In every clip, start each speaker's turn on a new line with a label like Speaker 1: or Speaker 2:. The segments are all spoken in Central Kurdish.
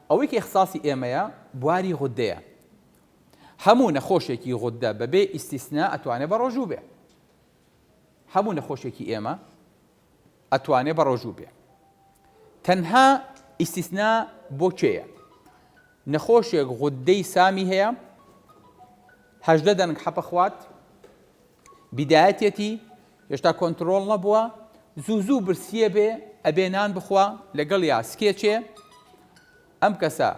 Speaker 1: ئەوەی کە ئیخساسی ئێمەیە بواری غوددەیە هەموو نەخۆشێکی غوددە بەبێ ئیستیسنا ئەتوانێ بەڕۆژوو بێ هەموو نەخۆشێکی ئێمە ئەتوانێ بەڕۆژوو بێ تەنها ئیستیسنا بۆ کێیە نەخۆشێک غودەی سامی هەیە هەژدە دەنگ حەپە خوات بیدایەتێتی هێشتا کۆنتترۆل نەبووە زوو زوو برسیە بێ ئەبێ نان بخوا لەگەڵ یا سکێچێ ئەم کەسە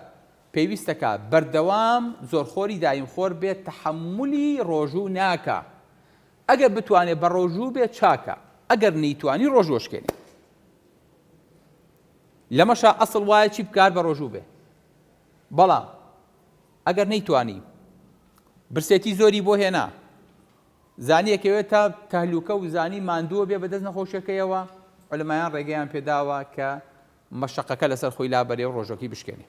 Speaker 1: پێویستەکە بەردەوام زۆرخۆری دایم خۆر بێت تحملی ڕۆژوو ناکە ئەگەر بتوانێ بەڕۆژوو بێ چاکە ئەگەر نەیتوانی ڕۆژ وەشکێنێ لەمەشا ئەسڵ وایە چی بکار بەڕۆژوو بێ بەڵام ئەگەر نەیتوانی برسێتی زۆری بۆ هێنا زانیەکەوێت تا تەهلوکە و زانی ماندووە بێ بەدەست نەخۆشەکەیەوە علمایان ڕێگەیان پێداوە کە مەشەقەکە لەسەر خۆی لابەرێ و ڕۆژوەکەی بشکێنێ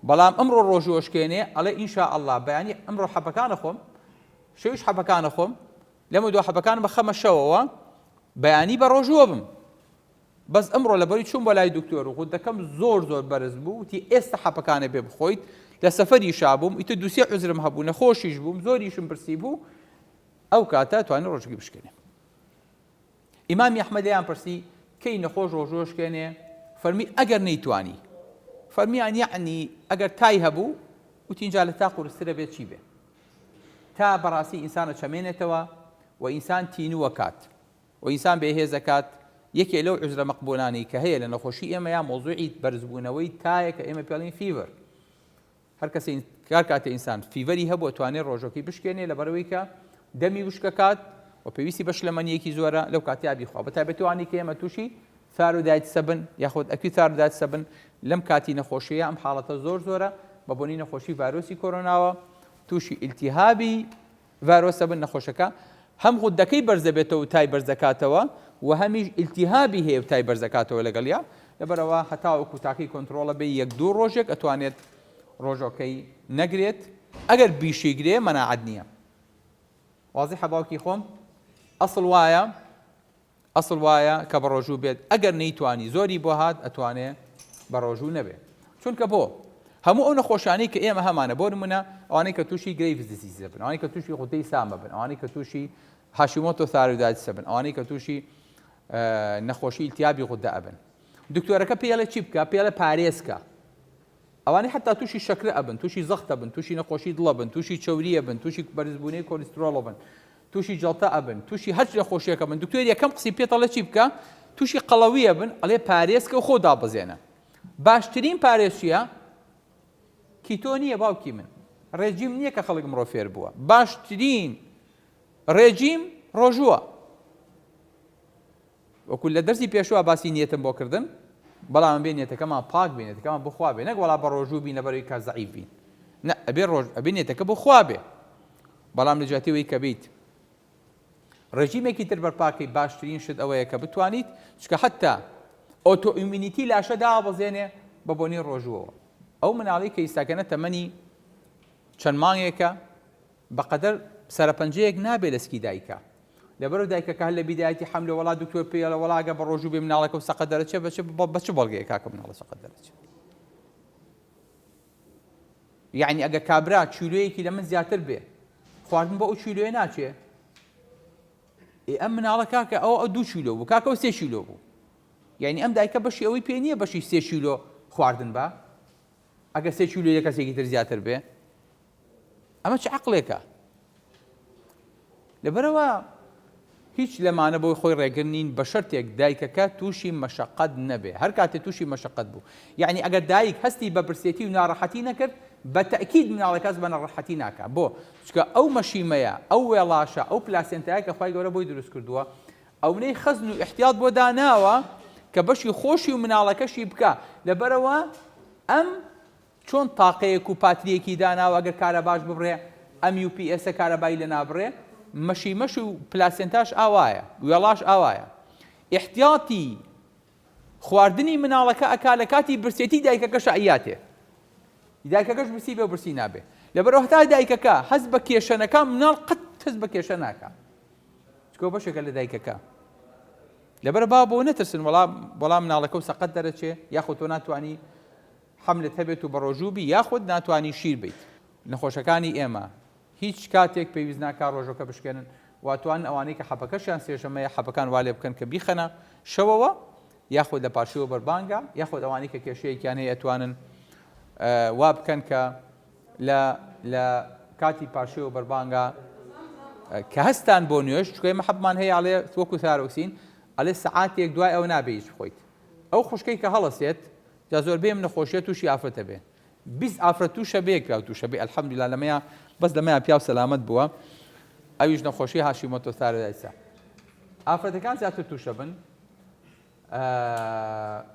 Speaker 1: بەڵام ئەمڕۆ ڕۆژی ئۆشکێنێ ئەڵێ ان شاء اللە بەیانی ئەمڕۆ حەپەکان ئەخۆم شەویش حەپەکان ئەخۆم لەمە دو حەپەکان بەخەمە شەوەوە بەیانی بە ڕۆژووە بم بەس ئەمڕۆ لەبەری چوون بۆ لای دکتۆر و غودەکەم زۆر زۆر بەرز بوو وتی ئێستا حەپەکانە بێ بخۆیت لە سەفەری شابووم ئیتە دوسێ عزرم هەبوو نەخۆشیش بووم زۆریشم برسی بوو ئەو کاتە توانی ڕۆژگی بشکێنێ ئیمامی ئەحمەد لێیان پرسی، کەی نەخۆش ڕۆژوو ئەشکێنێ؟ فەرمی، ئەگەر نەیتوانی. فەرمیان، یەعنی ئەگەر تای هەبوو؟ وتی، جا لە تا قورسترە بێت چی بێ؟ تا بەڕاستی ئینسان ئەچەمێنێتەوە و ئینسان تینوو ئەکات و ئینسان بێ هێز ئەکات، یەکێ لەو عوزرە مەقبوولانەی کە هەیە لە نەخۆشی ئێمەیا مەوزووعی بەرزبوونەوەی تایە کە ئێمە پێڵین Fever. هەر کەسێ هەر کاتێ ئینسان فیڤەری هەبوو ئەتوانێ ڕۆژەکەی بشکێنێ لەبەرئەوەی کە دەمی وشک ئەکات و پێویستی بە شلەمەنییەکی زۆرە لەو کاتەیا بیخوا بە تایبەتی ئەوانەی کە ئێمە تووشی ثایرۆدایتسە بن یاخود ئەکیوت ثایرۆدایتسە بن لەم کاتی نەخۆشییە ئەم حاڵەتە زۆر زۆرە بە بۆنی نەخۆشی ڤایرۆسی کۆرۆناوە تووشی ئیلتیهابی ڤایرۆسە بن نەخۆشەکە هەم غوددەکەی بەرز دەبێتەوە و تای بەرز دەکاتەوە و هەمیش ئیلتیهابی هەیە و تای بەرز دەکاتەوە لەگەڵیا لەبەرئەوە هەتاوەکو تاکەی کۆنتڕۆڵە بێ یەک دوو ڕۆژێک ئەتوانێت ڕۆژۆکەی نەگرێت ئەگەر بیشی گرێ مەناعەت نیە وازیحە باوکی خۆم ئەسڵ وایە. ئەسڵ وایە کە بەڕۆژوو بێت ئەگەر نەیتوانی زۆری بۆ هات ئەتوانێ بەڕۆژوو نەبێ چونکە بۆ هەموو ئەو نەخۆشانەی کە ئێمە هەمانە بۆ نمونە ئەوانەی کە تووشی گرەیڤ دزیزە بن ئەوانەی کە تووشی غودەی سامە بن ئەوانەی کە تووشی هاشیمۆتۆ ثایرۆیدایتسە بن ئەوانەی کە تووشی نەخۆشی التیابی غودە ئەبن دکتۆرەکە پێڵە چی بکە پێڵە پارێزکە ئەوانەی حتا تووشی شەکرە ئەبن تووشی زەختە بن تووشی نەخۆشی دڵە بن تووشی چوریە بن تووشی بەرزبوونەی کۆلیسترۆڵە بن توشی جەڵتە ئەبن توشی هەرچ نەخۆشیەکە بن دکتۆر یەکەم قسی پێت ئەڵێ چی بکە توشی قەڵەوی ئەبن ئەڵێ پارێزکە و خۆ دابەزێنە باشترین پارێز چیە کیتۆ نیە باوکی من ڕێجیم نییە کە خەڵک مرۆ فێر بووە باشترین ڕێجیم ڕۆژووە وەکو لە دەرسی پێشوە باسی نیەتم بۆ کردم بەڵام ئەبێ نیەتەکەمان پاک بێ نیەتەکەمان بۆ خوا بێ نەک وەڵا بە ڕۆژوو بین لەبەر ئەوی کە زەعیف بین نە ئەبێ ڕۆژ ئەبێ نیەتەکە بۆ خوا بێ بەڵام لە جیاتی وەی کە بیت ڕێژیمێکی تر بەرپاکەی باشترین شت ئەوەیە کە بتوانیت چکە حتا ئۆتۆ ئیمینیتی لاشە دابەزێنێ بە بۆنی ڕۆژووەوە ئەو مناڵی کە ئیستاکەنە تەمەنی چەند مانگێکە بەقەدەر سەرەپەنجەیەک نابێ لە سکی دایکە. لەبەرو دایکە کە هەر لە بیدایەتی حەملە وەڵا دکتۆر پێی ئەڵێ وەڵا ئەگەر بە ڕۆژوو بێ مناڵەکە و سەقەت دەرەچێ بە چ بە چ بەڵگەیەک کاکە مناڵە سەقەت دەرەچێ؟ یەعنی ئەگەر کابرا کیلۆیەکی لە من زیاتر بێ خواردن بە ئەو کیلۆیە ناچێ ئێ ئەم مناڵە کاکە ئەو ئەو دوو کیلۆ بوو کاکە و سێ کیلۆ بوو یعنی ئەم دایکە بەشی ئەوەی پێ نییە بەشی سێ کیلۆ خواردن بە ئەگەر سێ کیلۆی لە کەسێکی تر زیاتر بێ ئەمە چ عەقڵێکە؟ لەبەرەوە هیچ لەمانە بۆی خۆی ڕێگر نین بە شەرتێک دایکەکە تووشی مەشەقەت نەبێ هەر کاتێ تووشی مەشەقەت بوو یعنی ئەگەر دایک هەستی بە برسێتی و ناڕەحەتی نەکرد بە تەکید مناڵە کەس بە نەڕەحەتی ناکە بۆ چکە ئەو مەشیمەیە ئەو وێڵاشە ئەو پلاسێنتایە کە خی گەورە بۆی دروست کردووە ئەونەی خەزن و ئیحتیات بۆ داناوە کە بەشی خۆشی و مناڵەکەشی بکا لەبەرەوە ئەم چۆن تاقەیەک و پاتریەکی داناوە ئەگەر کارەباش ببڕێ ئەم یو پی ئێسە کارەبای لە نابڕێ مەشی مەش و پلاسێنتاش ئاوایە وێڵاش ئاوایە ئیحتیاتی خواردنی مناڵەکە ئەکا لە کاتی برسێتی دایکەکە شعیاتێ دایکەکەش برسی بێ برسی نابێ لەبەرەوە هەتا دایکەکە هەز بە کێشەنەکە مناڵ قەت هەز بە کێشە ناکە چکۆ بەشێکە لە دایکەکە لەبەر با بۆ نەترسن وەڵا بەڵام مناڵەکە و سەقەت دەرەچێ یاخود تۆ ناتوانانی حملت هەبێت و بەڕۆژوو بی یاخود ناتوانانی شیر بیت نەخۆشەکانی ئێمە هیچ کاتێک پێویست ناکا ڕۆژەکە بشکێنن واتوان ئەوانەی کە حەپەکەشیان سێشەمەیە حەپەکان والێ بکەن کە بیخەنە شەوەوە یاخود لە پارشەوە بەربانگە یاخود ئەوانەی کە کێشەیەکیان هەیە ئەتوانن وابکەن کە لە لە کاتی پاشێو و بەربانگا کە هەستان بۆ نوێژ چکۆی مەحەبمان هەیە ئەڵێ وەکو ثارۆکسین ئەڵێ سەعاتێک دوای ئەوە نابێ هیچ بخۆیت ئەو خوشکەی کە هەڵەسێت جا زۆربەی ئەم نەخۆشیە تووشی ئافرەتە بێ بیست ئافرەت تووشە بێ پیاو تووشە بێ الحمدلله لەمەیە بەس لەمەیە پیاو سەلامەت بووە ئەویش نەخۆشی هاشیمۆتۆ ثارۆیدایسە ئافرەتەکان زیاتر تووشە بن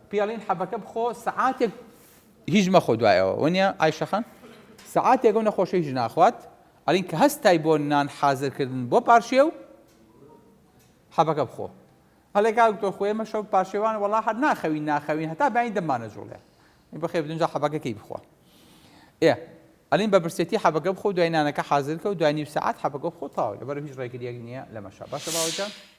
Speaker 1: پیالین حەبەکە بخۆ سەعاتێک هیچ مەخۆ دوای ئەوە وەنیە ئایشە خان سەعاتێک ئەو نەخۆشە هیچ ناخوات ئەلین کە هەستای بۆ نان حازرکردن بۆ پارشێ و حەبەکە بخۆ هەلێک دکتۆر خۆێ مە شەو پارشێوان وەڵا هەر ناخەوین ناخەوین هەتا بەین دەمانە جوڵێ بەخێ بدونجا حەبەکەکەی بخۆ ئێ ئەلین بە برسێتی حەبەکە بخۆ دوای نانەکە حازرکە و دوای نیو سەعات حەبەکە بخۆ تاوە لەبەر هیچ ڕێگریەک نییە لەمەشە باشە باوەکە